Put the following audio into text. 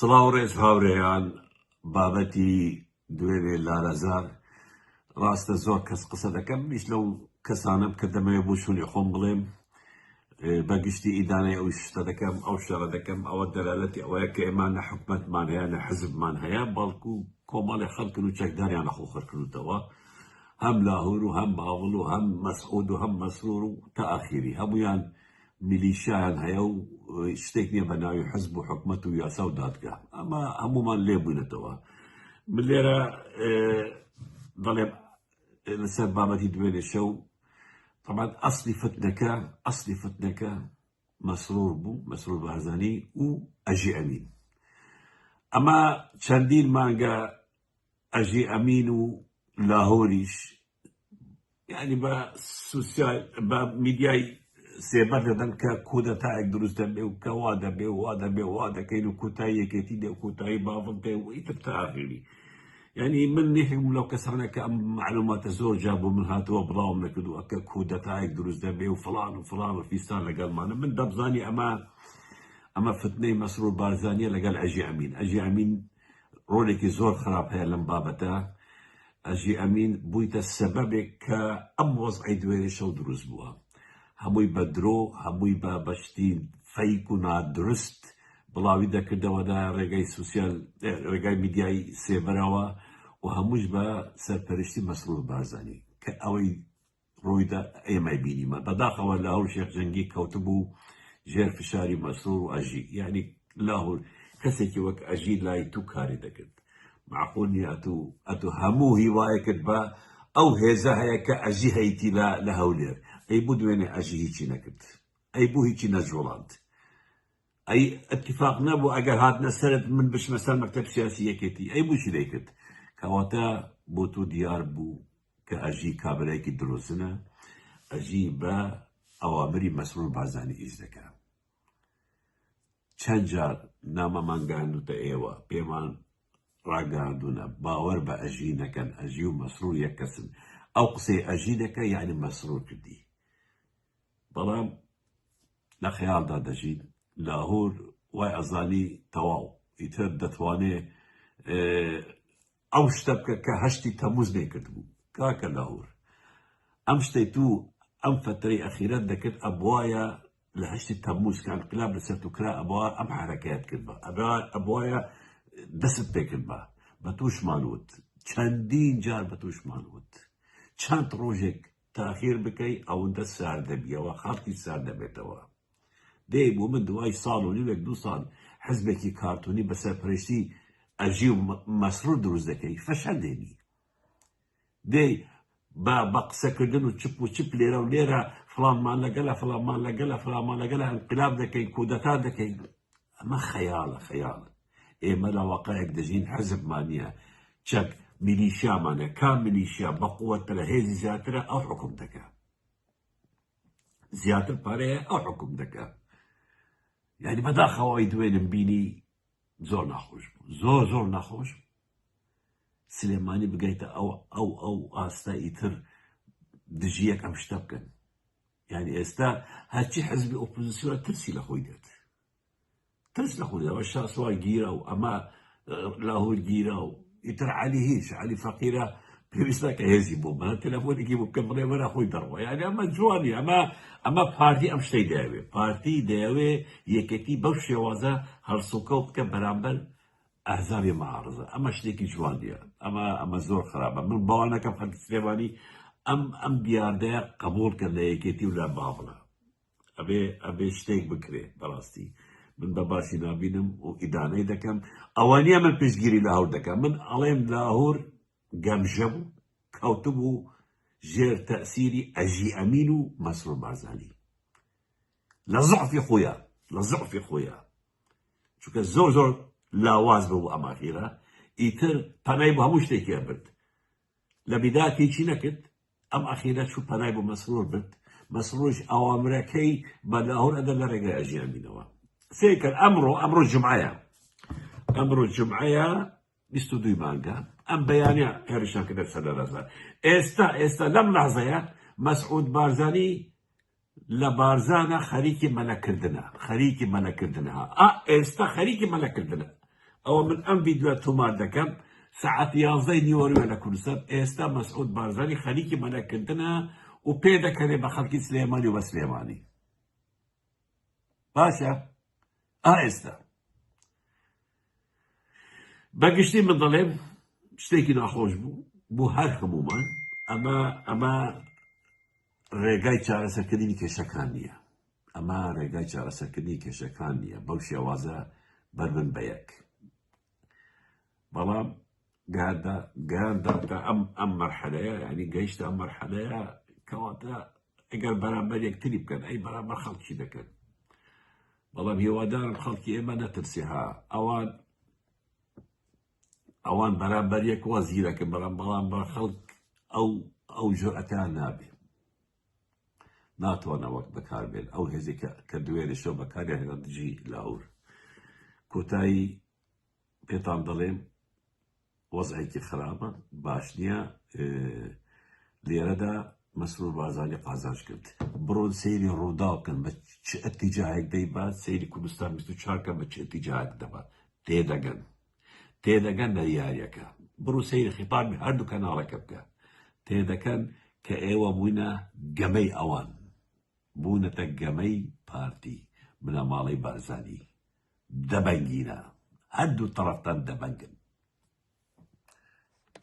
سڵاو ڕێز هاورێیان بابەتی دوێنێ لارەزان ڕاستە زۆر کەس قسە دەکەم منیش لەو کەسانم کە دەمەوێ بۆ شوونی خۆم بڵێم بەگشتی ئیدانەی ئەو شتە دەکەم ئەو شەڕە دەکەم ئەوە دەلالەتی ئەوەیە کە ئێمە نە حکومەتمان هەیە نە حزبمان هەیە بەڵکو کۆمەڵی خەڵکن و چەکداریان لە خۆخەرکردوتەوە هەم لاهور و هەم باوڵ و هەم مەسعود و هەم مەسرور و تا ئاخیری هەمویان میلیشیایان هەیە و شتێک نیە بەناوی حزب و حکومەت و یاسا و دادگا ئەمە هەمومان لێبوونەتەوە من لێرە دەڵێم لەسەر بابەتی دوێنێ شەو طبعا ئەسلی فتنەکە ئەسلی فتنەکە مەسرور بوو مەسرور بارزانی و ئەژی ئەمین ئەمە چەندین مانگە ئەژی ئەمین و لاهۆریش یانی بە سوسیال بە میدیای سێبەر دەدەن کە کودەتایەک دروست دەبێ و کەوا دەبێ وا دەبێ وا دەکەین و کوتای یەکێتی دێ کوتایی باڵم پێ و ئیتر تاغیری یعنی من نێکم لەو کەسانە کە ئەم معلوماتە زۆر جا بۆ من هاتووە بڵاوم نەکردووە کە کودەتایەک دروست دەبێ و فلان و فلان و فیستان لەگەڵمانە من دەبزانی ئەمە ئەمە فتنەی مەسرور بارزانیە لەگەڵ ئەژی ئەمین ئەژی ئەمین ڕۆلێکی زۆر خراپ هەیە لەم بابەتە ئەژی ئەمین بوویتە سەبەبێک کە ئەم وەزعی دوێنێ شەو دروست بووە هەمووی بە درۆ هەمووی بە بەشتی فەیک و نادرست بڵاوی دەکردەوە دا ڕێگای سوسیال ڕێگای میدیایی سێبەرەوە و هەمووش بە سەرپەرشتی مەسرور بارزانی کە ئەوەی ڕوویدا ئێمەی بینیمان بەداخەوە لاهور شێخ جەنگی کەوتبوو ژێر فشاری مەسرور و ئەژی یعنی لاهور کەسێکی وەک ئەژی لای تو کاری دەکرد معقول نیە ئەتو ئەتو هەموو هیوایەکت بە ئەو هێزە هەیە کە ئەژی هەیتی لە لە هەولێر ئەی بوو دوێنێ ئەژی هیچی نەکرد ئەی بوو هیچی نەجوڵاند ئەی ئەتیفاق نەبوو ئەگەر هاتنە سەرت من بچمە سەر مەکتب سیاسی یەکێتی ئەی بووچی دەیکرد کەواتە بۆ تۆ دیار بوو کە ئەژی کابرایکی درۆزنە ئەژی بە ئەوامری مەسرور بازانی ئیش دەکە چەند جار نامەمان گاندوتە ئێوە پێمان ڕاگەاندونە باوەەر بە ئەژی نەکەن ئەژی و مەسرور یەک کەسن ئەو قسەی ئەژی دەکە یعنی مەسرور کردی بەڵام لە خەیاڵدا دەژیت لاهور وای ئەزانی تەواو ئیتر دەتوانێ ئەو شتە بکە کە هەشتی تەموز نێکرد بوو کاکە لاهور ئەم شتەی تو ئەم فەتەی ئەخیرەت دەکرد ئەبواە لە هەشتی تەموز کان قلاب لە سەرت و کرا ئەبا ئەم حرەکەت کرد بە ئەبواە دەست پێکرد بە بە توشمان وت چەندین جار بە توشمان وت چەند ڕۆژێک تاخیر بکەی ئەوندە سارد دەبیەوە خەڵکیش سارد دەبێتەوە دەی بۆ من دوای ساڵ و نیوێک دوو ساڵ حزبێکی کارتونی بە سەرپەرشتی ئەژی و مەسرور دروست دەکەی فەشەل دێنی دەی بە بە قسەکردن و چپ و چپ لێرە و لێرە فڵانمان لەگەلە فڵانمان لەگەلە فڵانمان لەگەلە ئەنقلاب دەکەین کودەتا دەکەین ئەمە خەیاڵە خەیاڵە ئێمە لە واقعێک دەژین حزبمان نیە چەک میلیشیامانە کام میلیشیا بەقوەترە هێزی زیاترە ئەو حکوم دەکە زیاتر پارەیە ئەو حکوم دەکە یعنی بەداخەوەی دوێنم بینی زۆر ناخۆش بوو زۆر زۆر ناخۆش سلێمانی بگەیتە ئەو ئەو ئەو ئاستا ئیتر دژیەک ئەم شتە بکەن یعنی ئێستا هەرچی حزبی ئۆپۆزیسیۆن ترسی لە خۆی دێت ترس نەخۆی ئەوە شاسوار گیرا و ئەمە لاهور گیرا و ئیتر علی هیچ علی فەقیرە پێویستە کە هێزی بۆ بە تەلەفۆنێکی بکە بڵێ وەرە خۆی دەڕوە یاگە ئەمە جوانی ئەمە ئەمە پارتی ئەم شتەی دەوێ پارتی دەیەوێ یەکەتی بەو شێوازە هەڵسوکە و بکە بەرامبەر ئەزابێ مەعارزە ئەمە شتێکی جوانە ئەمە ئەمە زۆر خراپە من باوانەکەم خەلکی سلێمانی ئەم ئەم دیاردەیە قبول کە لە یەکێتی و لە بابڵە ئەبێ ئەبێ شتێک بکرێ بەڕاستی من بە باسی نابینم و ئیدانەی دەکەم ئەوانە من پشتگیری لە هەور دەکەم من ئەڵێم لاهور گەمژە بوو کەوتبوو ژێر تەسیری ئەژی ئەمین و مەسرور بازانی لە زعفی خۆیان لە زعفی خۆیان چونکە زۆر زۆر لاواز بوو ئەماخیرە ئیتر پەنای بە هەموو شتێکیان برد لە بیدات هیچی نەکرد ئەم ئەخیرە چوو پەنای بۆ مەسرور برد مەسروش ئەوامرەکەی بە لاهور ئەدە لە ڕێگای ئەژیان بینەوە سێکرد ئەمڕۆ ئەمڕۆ جمعەیە ئەمڕۆ جمعەیە بیست و دوی مانگە ئەم بەیانە هێرشان کردە سەر لە ڕزا ئێستا ئێستا لەم لەحزەیە مەسعود بارزانی لە بارزانە خەریکی مەلە کردنە خەریکی مەلە کردنە ها ئا ئێستا خەریکی مەلە کردنە ئەوە من ئەم ڤیدیۆ تۆمار دەکەم سعات یازدەی نیوەروێ لە کوردستان ئێستا مەسعود بارزانی خەریکی مەلە کردنە و پێ دەکەنێ بە خەڵکی سلێمانی و بە سلێمانی باشە ئا ئێستا بە گشتی من دەڵێم شتێکی ناخۆش بوو بۆ هەر هەمومان ئەمە ئەمە ڕێگای چارەسەکردنی کێشەکان نییە ئەمە ڕێگای چارەسەکردنی کێشەکان نییە بەو شێوازە بەربن بە یەک بەڵام گەهەندا گەیاندا تا ئەم ئەم مەرحەلەیە یعنی گەیشتە ئەم مەرحەلەیە کەواتە ئەگەر بەرامبەر یەکتری بکەن ئەی بەرامبەر خەڵکی دەکەن بەڵام هێوادارم خەڵکی ئێمە نەترسێ ها ئەوان ئەوان بەرامبەر یەک وا زیرەکە بەڵام بەڵام بە خەڵک ئەو ئەو جرئەتیان نابێ ناتوانە وەک بەکاربێن ئەو هێزێکە کە دوێنێ شەو بەکاریان هێنا دژی لاهور کۆتایی پێتان دەڵێم وەزعێکی خراپە باش نییە لێرەدا مەسرور بازانی قازانج کرد بڕۆن سەیری ڕووداوکەن بە چ ئەتیجاهێک دەیبا سەیری کوردستان چاکە بە چ ئەتیجاهێک دەبا تێدەگەن تێدەگەن لە یاریەکە بڕو سەیری خیتابی هەردوو کەناڵەکە بکە تێدەکەن کە ئێوە بووینە گەمەی ئەوان بوونەتە گەمەی پارتی بنەماڵەی بارزانانی دەبەنگینە هەردوو تەڕەفتان دەبەنگن.